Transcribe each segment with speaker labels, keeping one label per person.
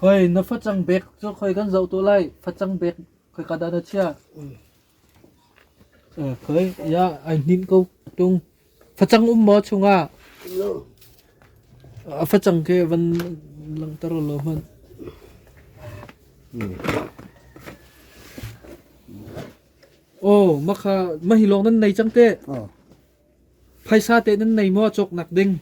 Speaker 1: Khoi na facang bek cu khoi kan zoh tuh lai. Facang bek khoi ka dah na chiah? Khoi, ia, ai hninh ko tung. Facang um maw chungah? A facang ke van langter lo hmanh. Oh, maka mahilong nan nei cang te. Phaisa te nan nei maw cok nak ding?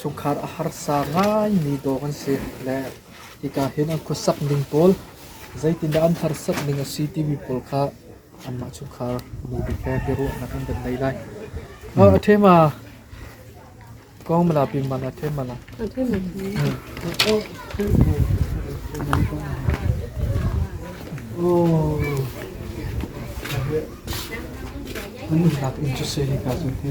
Speaker 1: Chungkhar a harsa ngaimi dawh kan si le hika hin an khuasak ning pawl zeitindah an harsat ning a si timi pawl kha anmah chungkhar nu bik he biaruahnak an kan ngei lai. Hngal a ṭhe ma? Kong mala pi man a ṭhe mala. A ṭhe ma? Oh. An nunnak in cu se hika cu hi.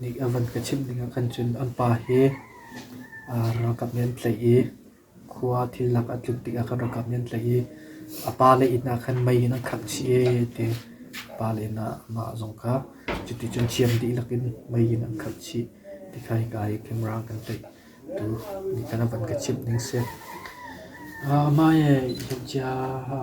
Speaker 1: Nih a van ka chimh ding ahkhan cun an pa hi ralkap nih an tlaih i khua thil nak a tlut tikah khan ralkap nih an tlaih i a pa le inn ahkhan mei in an khangh chih ee ti pa le inn ah mah zong kha cuti cun thiam dihlak in mei in an khangh chih ti kha hika i camera kan tlaih tu nih khan a van ka chimh ning si. Mah hi hnam chiaha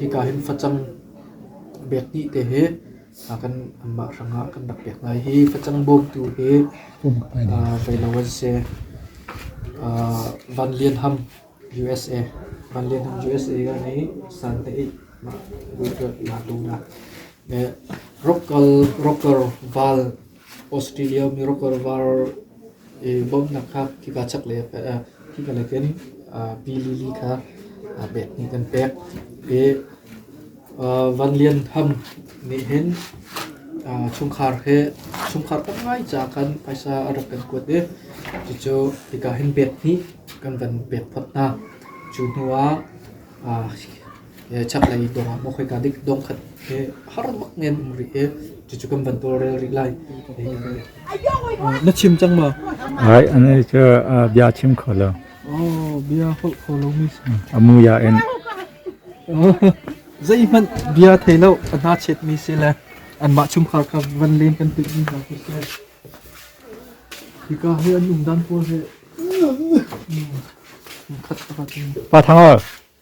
Speaker 1: hika hin facang bek hnih te hi kan anmah hrangah kan rak pek hna i hi facang bawmtu hi reilo an si. Van Lian Ham USA Van Lian Ham USA ka nei san te i ma na tung na ropkal ropkar val Australia Miracle var i bawmhnak kha khika chaklei ah khika nakin pi lili kha bek nih kan pek. I Van Lian Ham nih hin chungkhar he chungkhar tam ngai caah khan phaisa a rak kan kuat i cucu hika hin bek hnih kan van pek phot hna. Cu hnuah Chaklei dawngah maw khoika dik dawng khat he har bak men um rih i cucu kan van tawlrel rih lai. Na chim cang maw? Ai, ane cu bia chim kho lo. Oh, bia holh kho lomi si. A muya in. Zeihmanh bia thei lo a hna chetmi si le anmah chungkhar kha van len kan tuihmi hna khi si. Hika hi an um dan pawl he. Khat a va tin. Pa Thangor,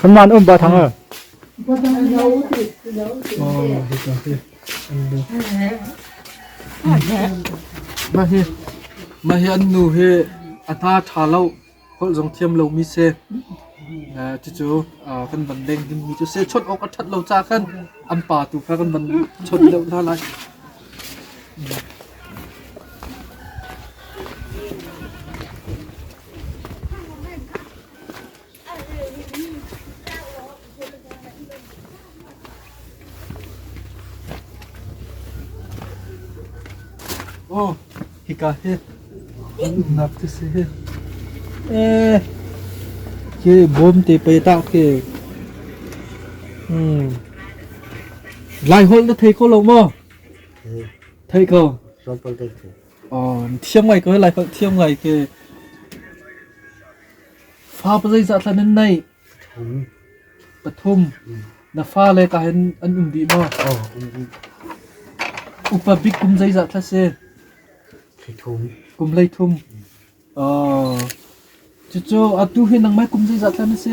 Speaker 1: Kanman um ba thang a. Mah hi mah hi an nu hi ata tha lo khol zong thiam lo mi se cu cu kan ban deng him mi cu se chot awk a that lo cha khan an pa tu kha kan ban chot deuh hna lai Aw, hika hi an umnak cu si hi. Eh, khi bawm te pe ta khi. Hmm. Lai holh na thei ko lo maw? Thei ko. Ron Paul Day. Thiam ngai ko hei, Laiholh thiam ngai ke. Fa pa zeizah thlan an neih? Pathum. Na fa le ka hen an um dih maw? Upa bik kum zeizah thla si? Kum hleithum. Cucu atu hi nangmah kum zeizat lai na si?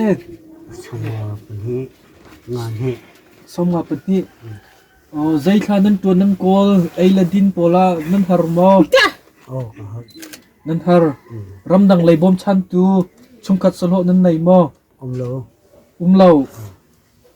Speaker 1: Sawmnga pahnih. Nga hnih. Sawmnga pahnih. Zei thla nan ṭuan nan kawl? Ei le din pawl ah nan har maw? Oh ka har. Nan har. Ramdang lei bawmchantu chungkhat sahlawh nan nei maw? Um lo. Um lo.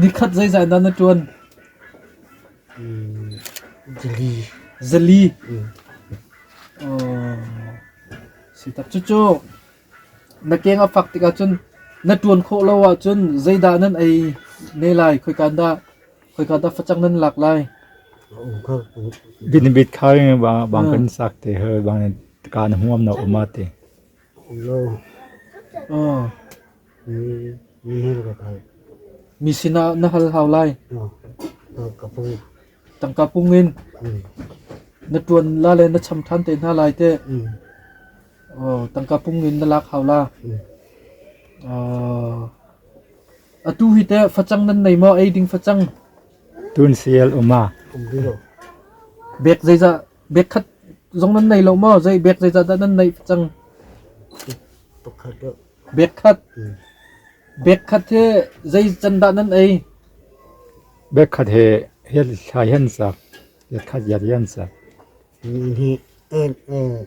Speaker 1: Nikhat zeizah in dah na ṭuan? Zali. Cucu na keng a fak tikah cun na ṭuan khawh lo ahcun zeidah nan ei ne lai? Khoika dah khoika dah facang nan lak lai? Dinabit khari bang kan sak te her bang kaan huam na um a ti. Mi sinah na hal hau lai. Tangka pung in na ṭuan la le na cham ṭhan te hna lai teh. Tangka pung in na lak hau la. Atu hi teh facang nan nei maw? Ei ding facang. Tun sial uma. Bek zeizah Bek khat zong nan nei lo maw? Zei bek zeicah dah nan neih cang? Bek khat. Bek khat he zei can dah nan ei? Bek khat he hian thlai hian sak, hian khat hian hian sak. Hi hi en en.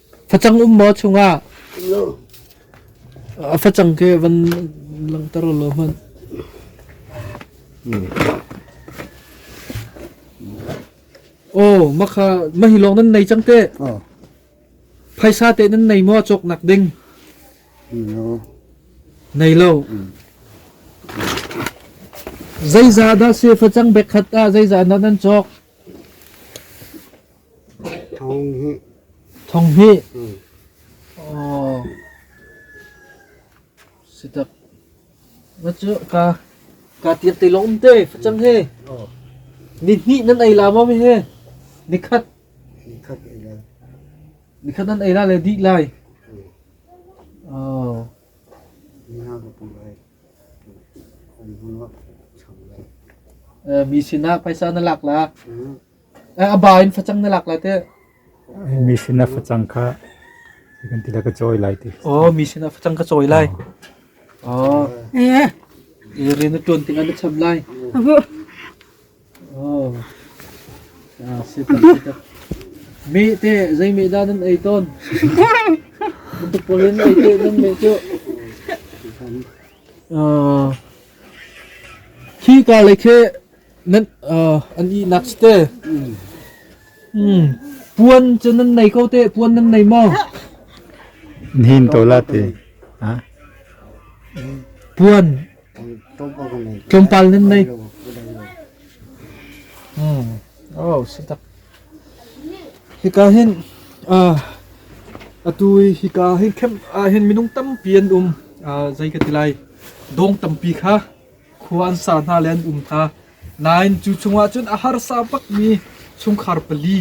Speaker 1: facang um maw chungah a facang ke van langter lo hman oh makha mahilong nan nei cang te phaisa te nan nei mo chok nak ding nei lo zeiza da se facang bek khat a zeiza na nan chok Thong hnih cu kaa tiat te lawng um te facang he. Ni hnih nan ei la maw he? Ni khat. Ni khat nan ei la le dih lai. Mi sinah paisa na lak la. A ba in facang na lak lai teh. Mission a facang kha kan ti la ka chawi lai ti. Oh, mission a facang ka chawi lai. Oh. Eh. I rian na tuan ting an na chap lai. Oh. Ah, sit sit. Mi te zai mi da nan ei ton. Untuk polin ei te nan mi chu. Ah. Khi ka le khe An ihnak si te. Puan cu nan nei ko teh, puan nan nei maw? Nihin to la te. Ha? Puan tlawmpal nan nei. Oh, sitak. Hika hin ah atui hika hin khem ah hin minung tampi an um. Ah, zai ka tilai. Dong tampi kha khua an sa hna le an um hna. Nain cu chungah cun a harsa bakmi chungkhar pali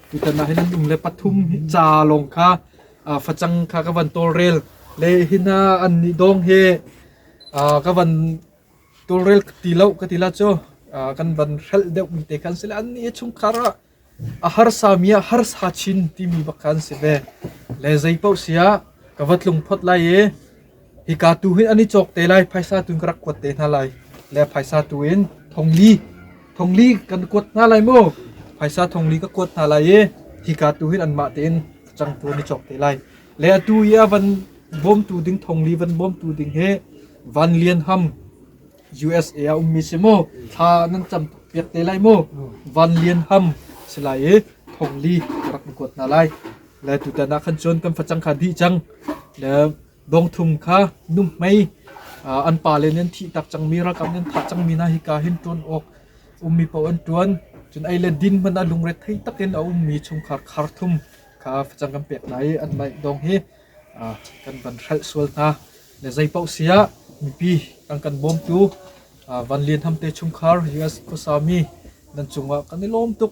Speaker 1: tutan ah hin an um le pathum hi ca lawng kha uh, facang kha ka van tawlrel le hin uh, an nih dong he uh, ka van tawlrel ti lo ka ti la cu uh, kan van hrel deuh mi te kan si le an nih chungkhar ah A harsami ah harsa chin timi bak kha an si ve. Le zeipaoh si ah ka va tlung phot lai i hika tu hin an i cawk te lai, phaisa tu in ka rak kuat te hna lai. Le phaisa tu in thongli, thongli kan kuat hna lai maw? Phaisa thongli ka kuat hna lai i hika tu hin anmah tein ka changtu an i cawk te lai. Le atu i a van bawmtu ding thongli van bawmtu ding hi van lian ham USA ah ummi si mu thla nan cam piak te lai mu van lian ham si lai i thong li rak kuat hna lai le tutan ah khan cun kan facang kha dih cang le dong thum kha num mei an pa le nan thi tak cang mi rakam nan tha cang mi na hi ka hin tuan ok ummi po an tuan cun ai le din man a lungre thei takin a ummi chungkhar khar thum kha facang kan pek nai an lai dong hi kan ban hrel sual hna Le zeipaoh sia mipi kan kan bawmtu Van Lian Ham te chungkhar US khuasa mi nan cungah kan i lawm tuk.